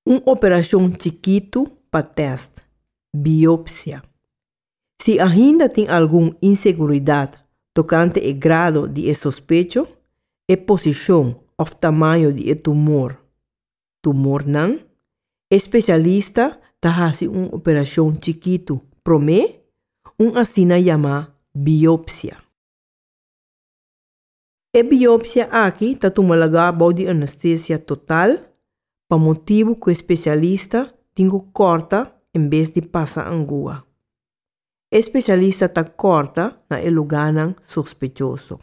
Un operacion chikitu pa test, biopsia. Si ainda tin algun inseguridad tocante e grado di e sospecho, e posicion of tamaño di e tumor, tumornan, e specialista ta haci un operacion chikitu prome, un asina yamá biopsia. E biopsia aki ta tuma lagá bou di anestesia total pa motibu ku e spesialista tin ku kòrta en bes di pasa angua. E spesialista ta kòrta na e lugánan sospechoso.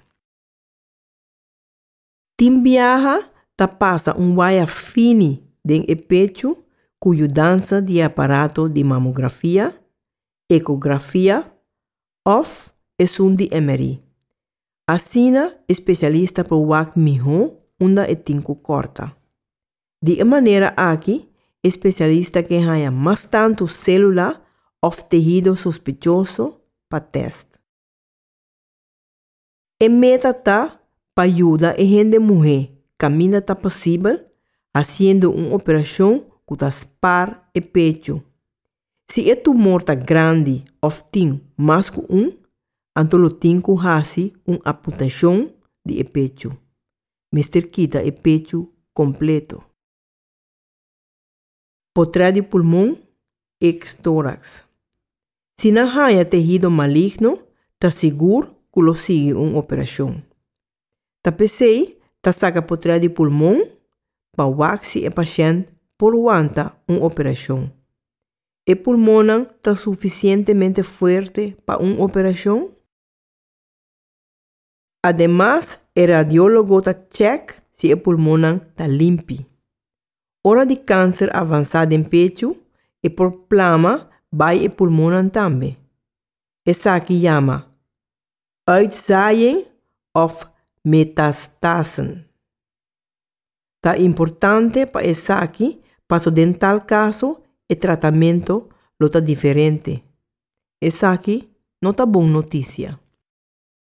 Tin biaha ta pasa un waya fini den e pechu ku yudansa di e aparato di mamografia, ekografia òf esun di MRI. Asina e spesialista por wak mihó unda e tin ku kòrta. Di e manera akí e spesialista ke haña mas tantu sélula òf tehido sospechoso pa tèst. E meta ta pa yuda e hende muhé kaminda ta posibel hasiendo un operashon ku ta spar e pechu. Si e tumor ta grandi òf tin mas ku un, anto lo tin ku hasi un aputashon di e pechu. Mester kita e pechu kompleto. Potrá di pulmon, eks tóraks. Si nan haña tehido maligno, ta sigur ku lo sigui un operashon. Ta p'esei ta saka potrel di pulmon pa wak si e pashènt por wanta un operashon. E pulmonnan ta sufisientemente fuerte pa un operashon? Ademas e radiólogo ta chèk si e pulmonnan ta limpi. Ora di kanser avansá den pechu e por plama bai e pulmonnan tambe. Esaki yama Uitzaaien òf metastasen. Ta importante pa esaki paso den tal kaso e tratamentu lo ta diferente. Esaki no ta bon notisia.